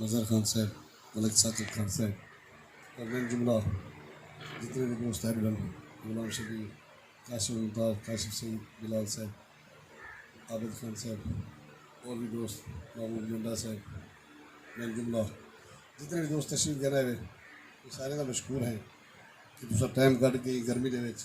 مظہر خان صاحب ملک ثاقب خان صاحب تے ٻئے جملہ جتنے وی دوست ہن ول غلام شبیر قاسم ممتاز کاشف سعید بلال صاحب عابد خان صاحب اور وی دوست محبوب لنڈا صاحب ٻئے جملہ جتنے وی دوست تشریف گھن آئے وے سارے دا مشکور ہیں کہ تساں ٹائم کڈھ کے گرمی دے وچ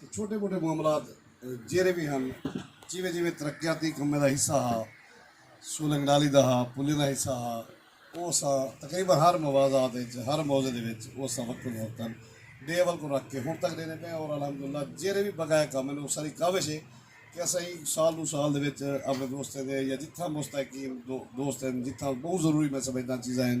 تے چھوٹے موٹے معاملات جیرھے وی ہن جیویں جیویں ترقیاتی کمیں دا حصہ ہا، سولنگ نالی دا ہا، پلیں دا حصہ ہا او اساں تقریبا ہر موازات اچ ہر موضع دے وچ او اساں وقتاً فوقتاً ڈے اول کوں رکھ کے ہن تک ڈیندے پئے آں اور الحمدللہ جیرھے وی بقایا کم ہن او ساڈی کاوش اے کہ اساں ایں سال ڈو سال دے وچ اپنے دوستیں دے یا جتھاں مستحقین دوست ہن جتھاں بہوں ضروری میں سمجھداں چیزاں ہن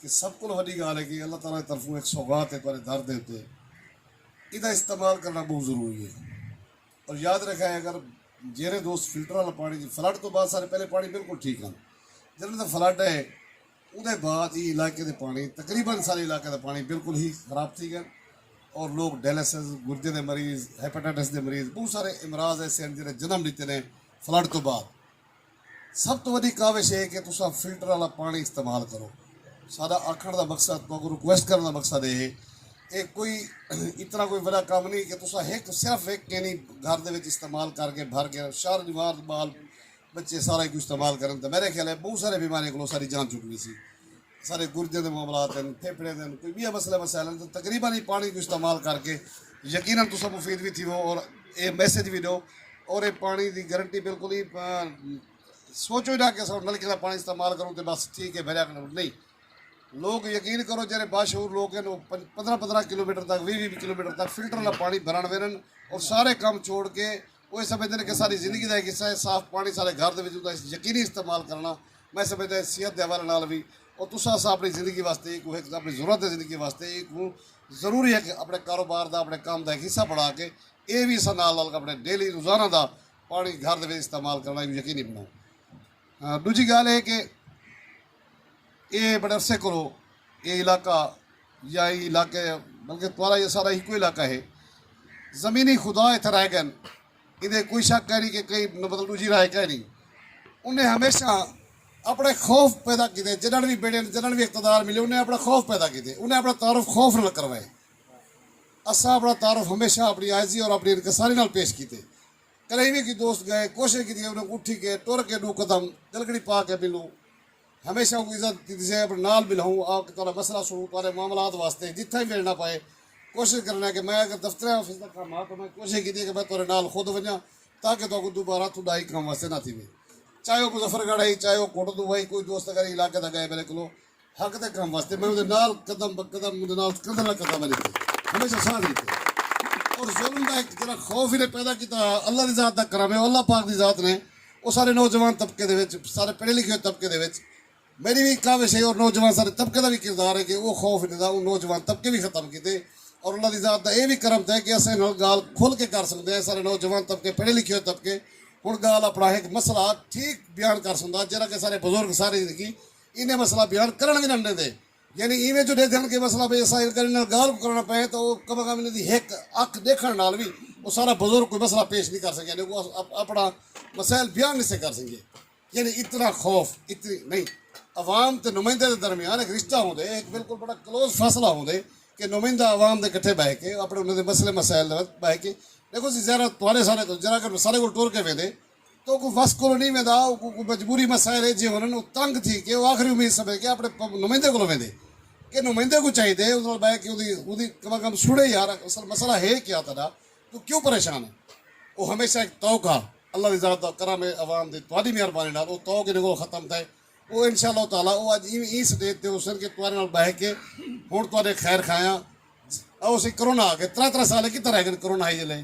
تے سب کولوں وڈی گالھ ہے کہ اللہ تعالی دی طرفوں ہک سوغات ہے تہاڈے در دے اتے ایندا استعمال کرنا بہوں ضروری ہے اور یاد رکھائے اگر جیرھے دوست فلٹر والا پانی جی فلڈ تو بعد سارے پہلے پانی بالکل ٹھیک ہن جنہاں دا فلڈ ہے اودے بعد ای علاقے دے پانی تقریبا سارے علاقے دا پانی بالکل ہی خراب تھی گئے اور لوگ ڈیلسز گردے دے مریض ہیپاٹائٹس دے مریض بہت سارے امراض ایسے ہیں جنہیں جنم لیتے ہیں فلڈ تو بعد سب توں وڈی کاوش اے کہ تساں فلٹر آلا پانڑی استعمال کرو۔ ساڈا آکھنڑ دا مقصد، تہاکوں ریکویسٹ کرنڑ دا مقصد اے ہے۔ اے کوئی اتنا کوئی وڈا کم نی کہ تساں ہک صرف ہک کینی گھر دے وچ استعمال کر کے بھر کے شہر جوار بال بچے سارا ایکوں استعمال کرن تاں میرے خیال اے بہوں سارے بیماریاں کولوں اساڈی جان چھٹ ویسی۔ سارے گرجیں دے معاملات ہن، پھیپھڑیں دے ہن، کوئی ٻیا مسئلے مسائل ہن تاں تقریبا ایں پاݨی کوں استعمال کر کے یقینا تساں مفید وی تھیوو اور اے میسج وی ݙیو اور اے پاݨی دی گرنٹی بالکل ای سوچو ای نہ کہ اساں نلکے دا پاݨی استعمال کروں تے بس ٹھیک اے بھریا کھڑوں نئیں لوک یقین کرو جیہڑے باشعور لوک ہن او پندرہ پندرہ کلومیٹر تک ویہہ ویہہ کلومیٹر تک فلٹر آلا پاݨی بھرݨ ویندن اور سارے کم چھوڑ کے اوہ سمجھدے ہن کہ ساݙی زندگی دا ہک حصہ ہے، صاف پاݨی ساݙے گھر دے وچ اوندا یقینی استعمال کرݨا میں سمجھدا ہے صحت دے حوالے نال وی او تساں اساں اپݨی زندگی واسطے ایکوں ہک اپݨی ضرورت ہے زندگی واسطے ایکوں ضروری ہک اپݨے کاروبار دا اپݨے کم دا ہک حصہ بݨا کے ایہ وی اساں نال نال اپݨے ڈیلی روزانہ دا پاݨی گھر دے وچ استعمال کرݨا ایکوں یقینی بݨاؤں ݙوجھی ڳالھ اے کہ ایہ بڑے عرصے کولوں ایہ علاقہ یا ای علاقہ یا بلکہ تہاڑا یا ساڑا ہکو علاقہ ہے۔ زمینی خدا اتھاں رہ گئن۔ ایندے کوئی شک کائنی کہ کئی مطلب ڈوجھی رائے کائنی۔ انہیں ہمیشہ اپنے خوف پیدا کیتے جڈن وی بیڑھے جڈن وی اقتدار ملے انہیں اپنا خوف پیدا کیتے۔ انہیں اپنا تعارف خوف نال کروائے۔ اساں اپنا تعارف ہمیشہ اپنی عاجزی اور اپنی انکساری نال پیش کیتے۔ کدے ایویں کوئی دوست گئے کوشش کیتی کہ انہیں اٹھی کے ٹر کے ڈو قدم گلگڑی پا کے ملوں۔ ہمیشہ اونکوں عزت ݙتی سے اپݨے نال مل ہوں آ کے تہاݙا مسئلہ سݨوں تہاݙے معاملات واسطے جتھاں وی ویڑھݨا پئے کوشش کرݨا کہ میں اگر دفتر آفس دا کم ہا تاں میں کوشش کیتی کہ میں تہاݙے نال خود ونڄاں تاکہ تہاکوں دوبارہ تھوݙا ہی کم واسطے نہ تھیوے چاہے او مظفر گڑھ ہئی چاہے او کوٹ ادو ہئی کوئی دوست اگر ایں علاقے دا ڳئے میݙے کولو حق دے کم واسطے میں اوندے نال قدم بہ قدم اوندے نال کندھے نال کندھا ملی تے ہمیشہ ساتھ ݙتے اور ظلم دا ہک جیڑھا خوف ایں نے پیدا کیتا ہا اللہ دی ذات دا کرم ہے او اللہ پاک دی ذات نے او سارے نوجوان طبقے دے وچ سارے پڑھے لکھے ہوئے طبقے دے وچ میڈی وی کاوش ہے اور نوجوان سارے طبقے دا وی کردار ہے کہ او خوف انہیں دا اوں نوجوان طبقے وی ختم کیتے اور اللہ دی ذات دا اے وی کرم تھئے کہ اساں انہاں گال کھل کے کر سکدے ہیں سارے نوجوان طبقے پڑھے لکھے ہوئے طبقے ہن گال اپنا ہک مسئلہ ٹھیک بیان کر سکدا جیرھا کہ سارے بزرگ سارے زندگی انہیں مسئلہ بیان کرن وی نہ ڈیندے یعنی ایویں جو ڈیکھن کہ مسئلہ بے سا ان کرن نال گالھ کو کرنا پئے تاں او کم کم انہاں دی ہک اکھ ڈیکھن نال وی او سارا بزرگ کوئی مسئلہ پیش نی کر سکے یعنی او اپنا مسائل بیان نی سے کر سکے یعنی اتنا خوف اتنی نہیں عوام تے نمائندے دے درمیان ایک رشتہ ہوندے ایک بالکل بڑا کلوز فاصلہ ہوندے کہ نمائندہ عوام دے کٹھے بہ کے اپنے انہاں دے مسئلے مسائل دے وقت بہ کے دیکھو سی زیرہ تہاڈے سارے جرا کر سارے کول ٹر کے ویندے توں کوں وس کولوں نی ویندا اوکوں کوں مجبوری مسائل ایجھے ہونن او تنگ تھی کے او آخری امید سمجھ کے اپنے نمائندے کولوں ویندے کے نمائندے کوں چاہیدے اوندے نال بہہ کے اوندی اوندی کم از کم سنڑے یار اصل مسئلہ ہے کیا تہاڈا توں کیوں پریشان ہے او ہمیشہ ہک طوق ہا اللہ دی ذات دا کرم ہے عوام دی تہاڈی مہربانی نال او طوق انہیں کولوں ختم تھئے او انشاء اللہ تعالی او اج ایویں ایں سٹیج تے ہوسن کے تہاڈے نال بہہ کے ہنڑ تہاڈے خیر خواہاں او سی کرونا آگئے ترے ترے سال اے کتھاں رہ گئے کرونا ہئی جلے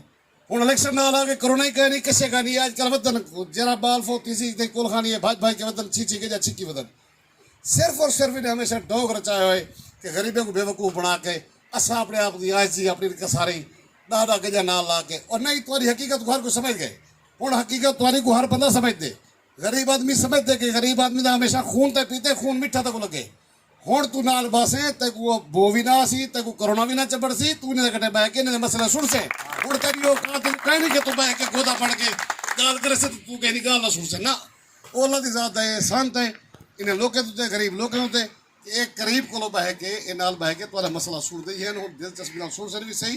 ہنڑ الیکشن نال آ کے کرونا ای کئے نی کشے گا نی اے اج کل ودھن جیرھا بال فوت تھیسی تئیں کول خانی اے بھج بھج کے ودھن چھچی گجا چھکی ودھن صرف اور صرف انہیں ہمیشہ ڈوک رچائے ہوئے کہ غریبیں کوں بے وقوف بنا کے اساں اپنے آپ دی عاجزی اپنی انکساری ڈاہ ڈاہ گجا نال لا کے اور نئیں تہاڈی حقیقت کوں ہر کوئی سمجھ گئے ہنڑ حقیقت تہاڈی کوں ہر بندہ سمجھ دے غریب آدمی سمجھ دے کہ غریب آدمی دا ہمیشہ خون تئیں پیتے خون میٹھا تکوں لگے ہنڑ توں نال بہسیں تیکوں او بو وی نہ آسی تیکوں کرونا وی نہ چبھڑسی توں انہاں دے کٹھے بہہ کے انہاں دے مسئلے سنڑسیں ہنڑ تیڈی اوقات تیکوں کائنی کہ توں بہہ کے گودا پھڑ کے گالھ کریسیں تے توں کہیں دی گالھ نہ سنڑسیں نہ او اللہ دی ذات دا اے احسان تے انہاں لوکیں اتے غریب لوکیں اتے کہ اے قریب کولوں بہہ کے اے نال بہہ کے تہاڈا مسئلہ سنڑدے ہن ہنڑ دلچسپی نال سنڑسن وی سہی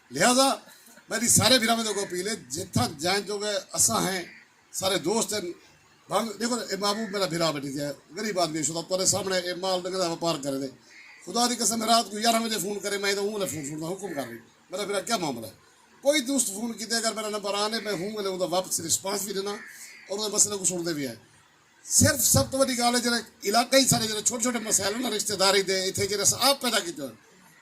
لہذا میڈی سارے بھراواں دے اگوں اپیل ہے جتھاں جائیں جوگے اساں ہیں سارے دوست ہیں بھاویں ڈیکھو اے محبوب میڈا بھرا وڈی تے غریب آدمی ہے شودا تہاڈے سامنے اے مال ڈنگر دا وپار کرے دے خدا دی قسم رات کوں یارہاں وجے فون کرے میں اوں ویلے فون سنڑدا ہاں حکم کر بھئی میڈا بھرا کیا معاملہ ہے کوئی دوست فون کیتے اگر میڈا نمبر آن ہے میں اوں ویلے اوندا واپسی رسپانس وی ڈینا اور اودے مسئلے کوں سنڑدے وی ہیں۔ صرف سب توں وڈی گالھ ہے جیرھے علاقائی سارے جیرھے چھوٹے چھوٹے مسائل ہیں نا رشتہ داری دے ایتھے جیرھے اساں آپ پیدا کیتے ہوئے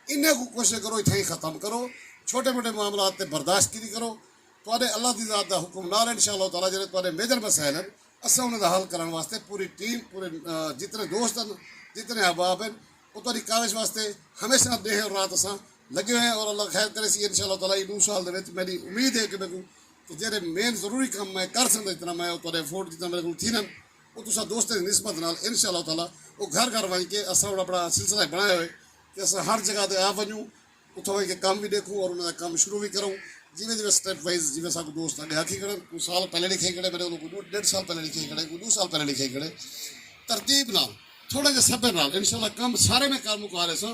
انہیں کو کوشش کرو ایتھے ہی ختم کرو چھوٹے موٹے معاملات تے برداشت کیتی کرو تہاڈے اللہ دی ذات دا حکم نال انشاء اللہ تعالی جیرھے تہاڈے میجر مسائل ہیں اساں انہاں دا حل کرن واسطے پوری ٹیم پورے جتنے دوست ہیں جتنے احباب ہیں او تہاڈی کاوش واسطے ہمیشہ ڈیہہ اور رات اساں لگے ہوئے ہیں اور اللہ خیر کرے سی انشاء اللہ تعالی ایں ڈو سال دے وچ میڈی امید ہے کہ میکوں تے جیرھے مین ضروری کم میں کر سگدا جتنا میں او تہاڈے ایفورٹ جتنا میڈے کولوں تھیندن او تساں دوستاں دی نسبت نال ان شاء اللہ تعالی او گھر گھر ونج کے اساں ہن اپنا سلسلہ اے بنایا ہوئے کہ اساں ہر جگہ تے آ ونجوں اتھاں ونج کے کم وی ڈیکھوں اور انہاں دا کم شروع وی کروں جیویں جیویں سٹیپ وائز جیویں اساکوں دوست اگے آکھی کھڑن کوئی سال پہلے لکھائی کھڑے میڈے کولوں کوئی ڈیڈھ سال پہلے لکھائی کھڑے کوئی ڈو سال پہلے لکھائی کھڑے ترتیب نال تھوڑے جے صبر نال ان شاء اللہ کم سارے میں کر مکا لیساں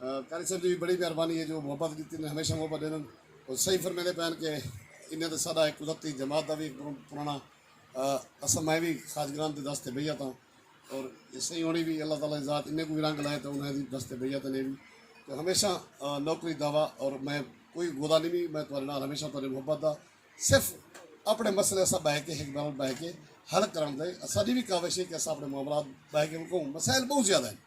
قاری صاحب دی بڑی مہربانی ہے جو محبت ڈتی نے ہمیشہ محبت ڈیندن اور صحیح فرمیندے پین کہ انہیں تے ساڈا ایک قدرتی جماعت دا وی پرانا اساں میں وی خاج گرام دے دس تے بیعت ہاں اور صحیح ہونی وی اللہ تعالی دی ذات انہیں کو وی رنگ لائے تے انہیں دی دس تے بیعت نے وی تو ہمیشہ نوکری دعوی اور میں کوئی گودا نہیں وی میں تہاڈے نال ہمیشہ تہاڈے محبت دا صرف اپنے مسئلے اساں بہ کے ایک بار بہ کے حل کرن دے اساڈی وی کاوش ہے کہ اساں اپنے معاملات بہ کے مسائل بہت زیادہ ہیں